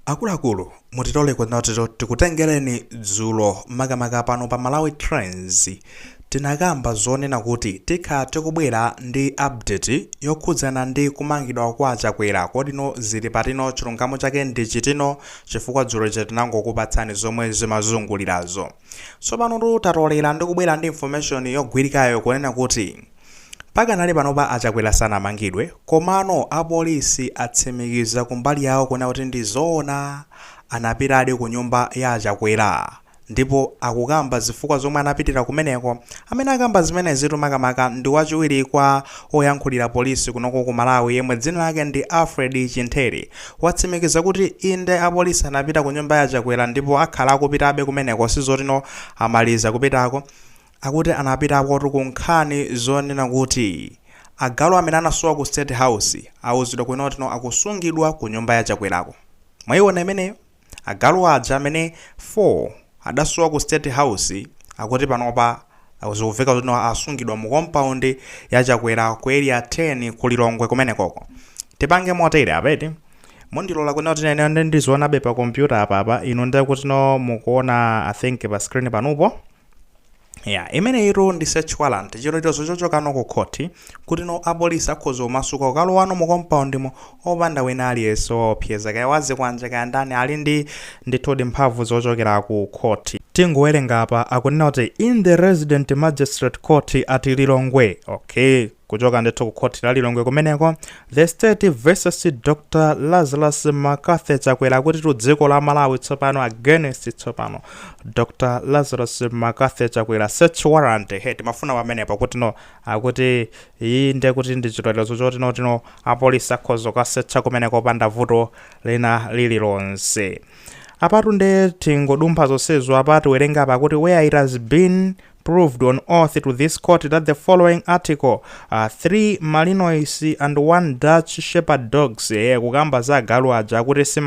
Akuluakulu mutilole kuti tikutengereni dzulo makamaka pano pa Malawi Trends tinakamba zonena kuti tikhala tikubwera ndi update yokhudzana ndi kumangidwa kwa Chakwera kodino zili patino chilungamo chake ndi chitino chifukwa dzulo lija tinangokupatsani zomwe zimazungulirazo tsopanotu tatolera ndi kubwera ndi information yogwirikayo kunena kuti Pakanali panopa a Chakwera sanamangidwe komano a police atsimikiza kumbali yawo kunena kuti ndi zoona anapitadi ku nyumba ya a Chakwera ndipo akukamba zifukwa zomwe anapitira kumeneko. Amene akamba zimenezitu makamaka ndi wachiwiri kwa oyankhulira police kunoko ku Malawi yemwe dzina lake ndi Alfred Chimthere watsimikiza kuti inde a police anapita ku nyumba ya a Chakwera ndipo akhala akupitabe kumeneko sizotino amaliza kupitako. akuti anapitakotu ku nkhani zonena kuti agalu amene anasowa ku state house auzidwa kunena kutino akusungidwa ku nyumba ya chakwerako mwaiona imeneyo agalu aja amene 4 adasowa ku state house akuti panopa zikumveka kutino asungidwa mu compound ya chakwera ku area 10 ku lilongwe kumenekoko tipange motere apeti mundilola kunena kuti ineyo ndizionabe pa kompyuta apapa inu nde kutino mukuona i think pa screen panupo ya imeneyitu ndi search warrant chilolezo chochokano ku khoti kutino apolisi akhoza kumasuka kukalowano mu compoundimo opanda wina aliyense waopseza kaya wa zikwanje kaya ndani ali ndi ndithudi mphamvu zochokera ku khoti tingowerenga apa akunena kuti in the resident magistrate court at lilongwe okay kuchoka ndithu ku khoti la lilongwe kumeneko the state versus dr lazarus mccarthy chakwera akuti tu dziko la malawi tsopano against tsopano dr lazarus mccarthy chakwera search warrant he timafuna pamenepo kutino akuti iyi nde kuti ndi chilolezo chotinotino apolisi akhoza kukasetcha kumeneko opanda vuto lina lililonse apatu nde tingodumpha zonsezo apa tiwerenga apa kuti where it has been proved on oath to this court that the following article uh, 3 malinois and 1 dutch shepherd dogs eh, kukamba za agalu aja akuti si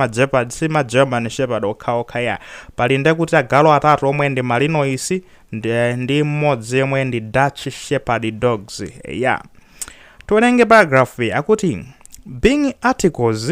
ma german shepherd okhaokha ya pali nde kuti agalu atatu omwe ndi malinois ndi, ndi mmodzi yemwe ndi dutch shepherd dogs eh, ya tiwerenge paragraph iyi akuti being articles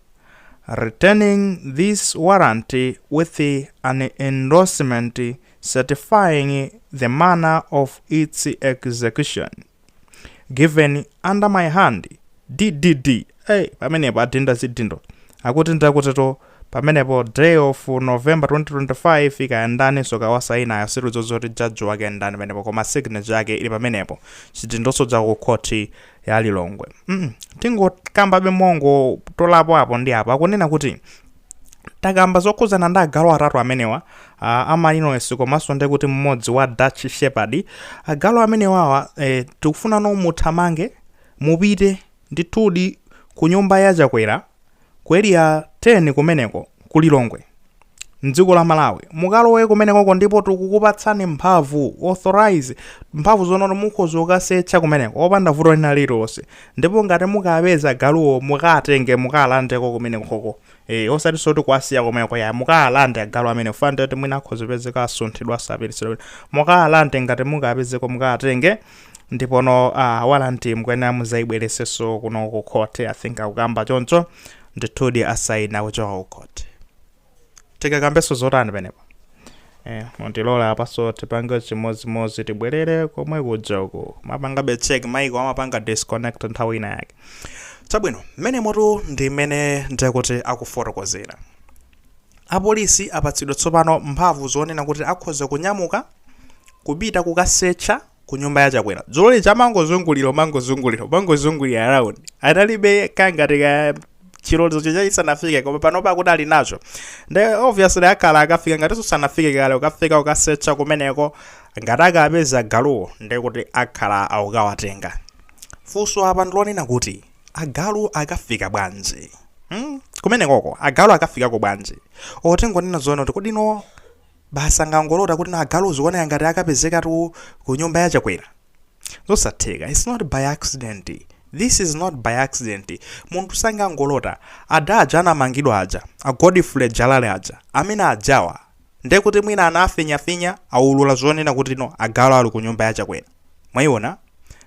returning this warrant with an endorsement certifying the manner of its execution given under my hand ddd hey, pamenepo adinda zidindo akuti nde kutitu pamenepo day of november 2025 kaya ndaninso kaya wasainayo sitidziwa zoti jaji wake ndani pamenepo koma signature yake ili pamenepo chidindoso chakukhoti ya lilongwe mm, tingokambabe mongo tolapo apo ndi apo akunena kuti takamba zokhudzana ndi agalu atatu amenewa uh, amalinoesi komanso ndi kuti mmodzi wa dutch shepherd agalu amenewawa eh, tikufunano muthamange mupite ndithudi ku nyumba ya chakwera Ku area 10 kumeneko ku Lilongwe mdziko la Malawi mukalowe kumenekoko ndipo tikukupatsani mphamvu authorize mphamvu zonena mukhoza kukasecha kumeneko opanda vuto lina lililonse ndipo ngati mukapeza agaluwo mukatenge mukalandeko kumenekoko eh osatiso ndi kuwasiya kumeneko ya mukalande agalu amene fanda kuti mwina akhoza kupezeka asunthidwa asapititsidwa mukalande ngati mukapezeko mukatenge ndipono warrant mukuyenera muzaibwereseso kuno ku court i think akukamba choncho ndithudi asaina kuchoka ku court tikambeso zotani penepo eh, mutilola apaso tipange chimodzimodzi tibwerere komwe kuja uku mapanga check maiko amapanga disconnect nthawi ina yake chabwino mmenemotu ndi mmene ndekuti akufotokozera apolisi apatsidwa tsopano mphamvu zonena kuti akhoza kunyamuka kupita kukasecha ku nyumba ya chakwera dzulo lija amangozungulira umangozungulira umangozungulira around analibe kangati ka chilolezo chija chisanafike koma panopa akuti alinacho nde obviously akhala akafika ngati sanafike kale kukafika kukasecha kumeneko ngati akapeza galuwo nde kuti akhala akukawatenga funso apa ndilonena kuti agalu akafikako bwanji hmm? kumenekoko agalu akafikako bwanji tingonena zoona kuti kodi no basi sangangolota kuti no agalu zikuoneka ngati akapezekatu ku nyumba ya chakwera zosatheka its not by accident this is not by accident munthu sangangolota ada aja anamangidwa aja a godfrey jalale aja amene ajawa ndekuti mwina anawafinyafinya aulula zonena kuti no agalu ali ku nyumba ya chakwera mwaiona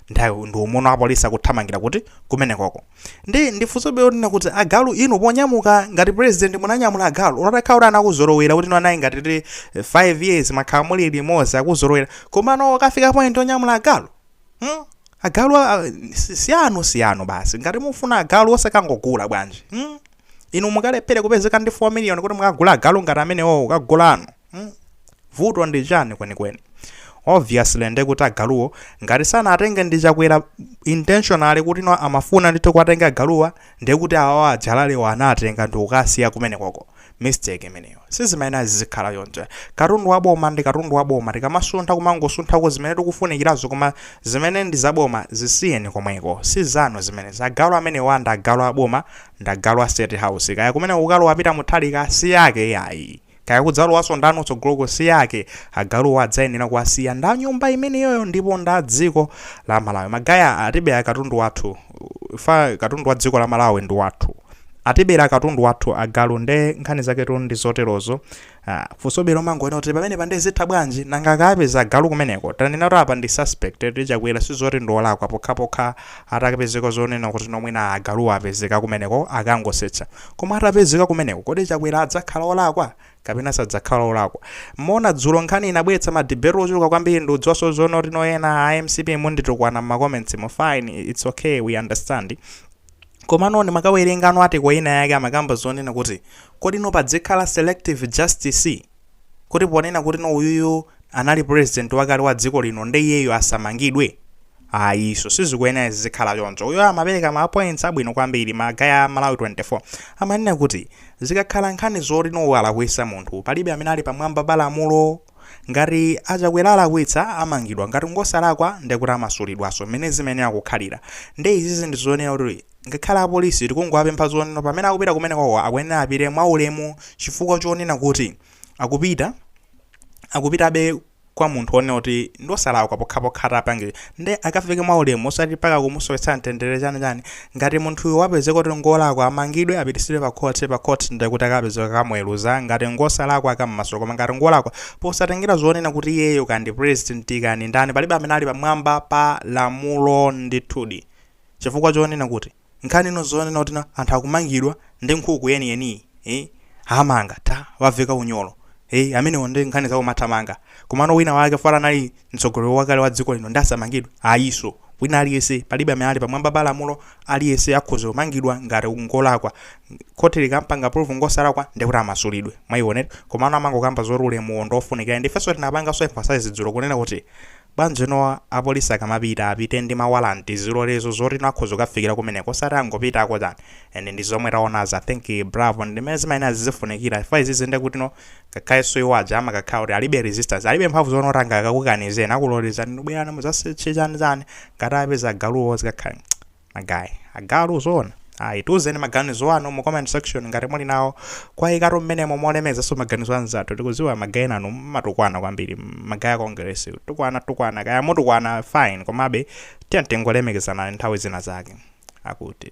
ndi umono apolisi akuthamangira kuti kumenekoko ndi funsobe lonena kuti agalu inu ponyamuka ngati president munanyamula agalu ngakhale kuti anakuzolowera kuti no anayi ngati tili 5 years mwakhala muli limodzi akuzolowera koma no kukafika point onyamula agalu hmm? agalu a- a- si- si anu si anu basi ngati mufuna agalu osakangogula bwanji hmm? inu mukalephere kupezeka ndi 4 million kuti mukagule agalu ngati amenewo kukagula anu mm. vuto ndi chani kwenikweni obviously nde kuti agaluwo ngati sanatenge ndi chakwera intentionally kuti no amafuna ndithu kuwatenga agaluwa nde kuti awawa a jalalewo anatenga ndi kukasiya kumenekoko mistake imeneyo sizimene zizikhala ayi katundu wa boma ndi katundu wa boma tikamasuntha kumangosunthako zimene tikufunikirazo koma zimene ndi zaboma zisiyeni komweko si zanu zimene agalu amenewa ndi agalu a boma ndi agalu a state house kaya kumene ukalowa pita muthalika si yake yayi Kaya kudzalowanso ndani utsogoloko si ake, agaluwo adzayenera kuwasiya nda nyumba imeneyoyo ndipo nda dziko la Malawi. Magaya atibera katundu wathu, fa katundu wa dziko la Malawi ndi wathu. Atibera katundu wathu agalu nde nkhani zaketu ndi zoterozo. Ah, funsobero mangonena kuti pamenepa nde zitha bwanji? Nanga akawapeza agalu kumeneko? Tanena kuti apa ndi suspect eti a Chakwera sizoti ndi wolakwa pokhapokha Atakapezeka zonena kuti no mwina agaluwo apezeka kumeneko akangosetcha. Koma atapezeka kumeneko kodi Chakwera adzakhala olakwa? Kapena sadzakhala olakwa? Mona dzulo nkhani inabweretsa ma debate ochuluka kwambiri ndikudziwanso zonoti no ena a mcp munditukwana mma comments mu fine its ok we understand. Komano ndimakawerenga no article ina yake amakamba zonena kuti kodi no padzikhala selective justice? kuti ponena kuti no uyuyu anali president wakale wa dziko lino nde iyeyo asamangidwe ayiso sizikuyenera zizikhala choncho uyo amapereka ma points abwino kwambiri magaya a malawi 24 amanena kuti zikakhala nkhani zoti no walakwisa munthu palibe amene ali pamwamba pa lamulo ngati achakwera alakwitsa amangidwa ngati ngosalakwa ndekuti amasulidwaso mmene zimayenera kukhalira nde izizi ndi zonena kuti Ngakhale apolisi tikungowapempha zonena pamene akupita kumenekoko akuyenera apite mwaulemu chifukwa chonena kuti akupita akupitabe kwa munthu onena kuti ndiosalakwa pokhapokha atapanga izi nde akafike mwaulemu osati mpaka kumusowetsa mtendere chani chani ngati munthuyo wapezeka kuti ngolakwa amangidwe apitisidwe pa court pa court nde kuti akapezeka akamuweluza ngati ngosalakwa akammasula koma ngati ngolakwa posatengera zonena kuti iyeyo kaya ndi president kaya ndani palibe amene ali pamwamba pa lamulo ndithudi chifukwa chonena kuti nkhani ino zonena kuti na anthu akumangidwa ndi nkhuku yeni yeniyi eh amanga atawaveka unyolo eh amene onde nkhani zawo mathamanga komano wina wake fala anali mtsogoleri wakale wa dziko lino nde asamangidwe ayiso wina aliyese palibe amene ali pamwamba pa lamulo aliyese akhoza kumangidwa ngati ngolakwa khoti likampanga prove ngosalakwa ndekuti amasulidwe mwaiwona komano amangokamba zoti ulemuwo ndofunikira ndifenso tinapanganso emphasize dzulo kunena kuti Bwanji no apolisi akamapita apite ndi ma warrant, zilolezo zoti no akhoza kukafikira kumeneko osati angopitako chani? And ndi zomwe tawonazi I think bravo ndi mene zimayenera zizikhalira chifukwa izizi nde kuti no ngakhalenso iwo aja amakakhala kuti alibe resistance, alibe mphamvu zoti no angakakukanizeni akulolezani no bwerani muzasearche chani chani ngati apeza agaluwo zikakhale. magaye agalu zoona ayi tiuzeni maganizo anu mu comment section ngati muli nawo kawayikeni mmenemo molemezaso maganizo anzathu tikuziwa magayi nanu mmatukwana kwambiri magayi a congress tukwana tukwana kaya mutukwana fine komabe tiyeni tingolemekezana nthawi zina zake akuti